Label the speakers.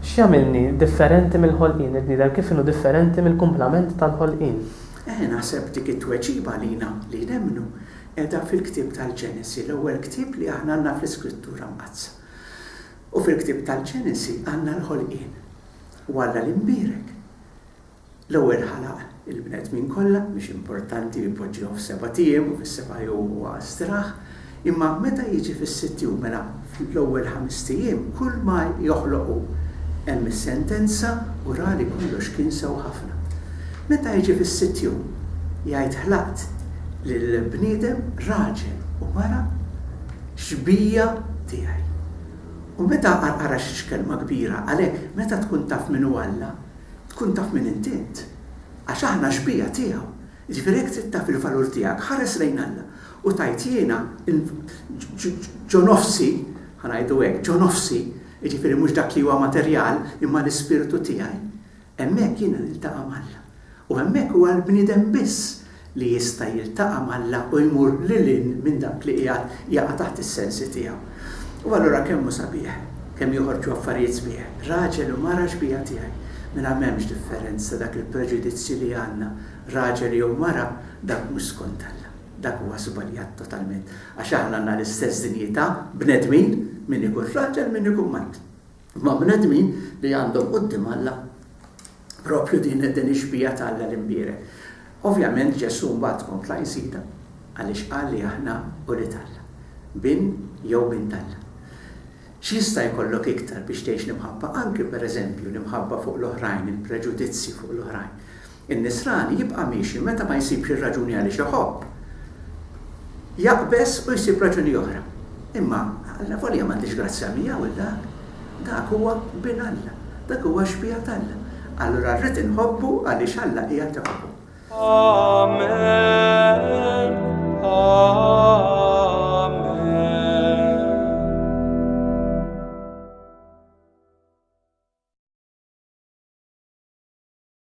Speaker 1: X'jagħmilni differenti mill-ħolqien? Il-bniedem kif inhu differenti mill-kumplament tal-ħolqien? Eħe, naħseb
Speaker 2: dik it-tweġiba għalina li nemmnu qiegħda fil-ktieb tal-Ġenesi, l-ewwel ktieb li aħna għandna fl-Iskrittura Mqaddsa. U fil-ktieb tal-Ġenesi għandna l-ħolqien u Alla li nbierek. L-ewwel ħalaq il-bnedmin kollha, mhix importanti li poġġihom f'sebat ijiem u fis-seba' jum huwa straħ, imma meta jiġi fis-sitt jum, mela fl-ewwel ħamest ijiem, kull ma joħloq hu. Hemm is-sentenza u ra li kollox kien sew ħafna. Meta jiġi fis-sitt jum, jgħid ħlaqt lill-bniedem raġel u mara xbija tiegħi. U meta qarqara xi x'kelma kbira, għalhekk meta tkun taf min hu Alla, Tkun taf min int int, għax aħna xbieha tiegħu. Jiġifieri jekk trid taf il-valur tiegħek, ħares lejn Alla u tgħid jiena ġo nofsi, ħa ngħidu hekk, ġo nofsi, jiġifieri mhux dak li huwa materjal imma l-ispirtu tiegħi, hemmhekk jiena niltaqa' m'Alla. U hemmhekk huwa l-bniedem biss li jista' jiltaqa' m'Alla u jmur lil hinn minn dak li qiegħed jaqa' taħt is-sensi tiegħu. U allura kemm hu sabiħ, kemm joħorġu affarijiet sbieħ, raġel u mara xbieha tiegħi, mingħajr m'hemmx differenza dak il-preġudizzju li għandna, raġel jew mara, dak mhux skont Alla. Dak huwa żbaljat totalment, għax aħna għandna l-istess dinjità, bnedmin, min ikun raġel, min ikun mara. Ma' bnedmin li għandhom quddiem Alla proprju din ix-xbieha ta' Alla l-Imbierek. Ovvjament Ġesù mbagħad kompla jżidha għaliex qal li aħna ulied Alla, bin jew bint Alla. X'jista' jkollok iktar biex tgħix l-imħabba, anki pereżempju l-imħabba fuq l-oħrajn, il-preġudizzji fuq l-oħrajn? In-nisrani jibqa' miexi meta ma jsibx ir-raġuni għaliex iħobb. Jaqbeż u jsib raġuni oħra. Imma Alla, volja m'għandix grazzja miegħu dak, dak huwa Bin Alla, dak huwa xbieha t'Alla. Allura rrid inħobbu għaliex Alla qiegħed iħobbu. Amen. Amen.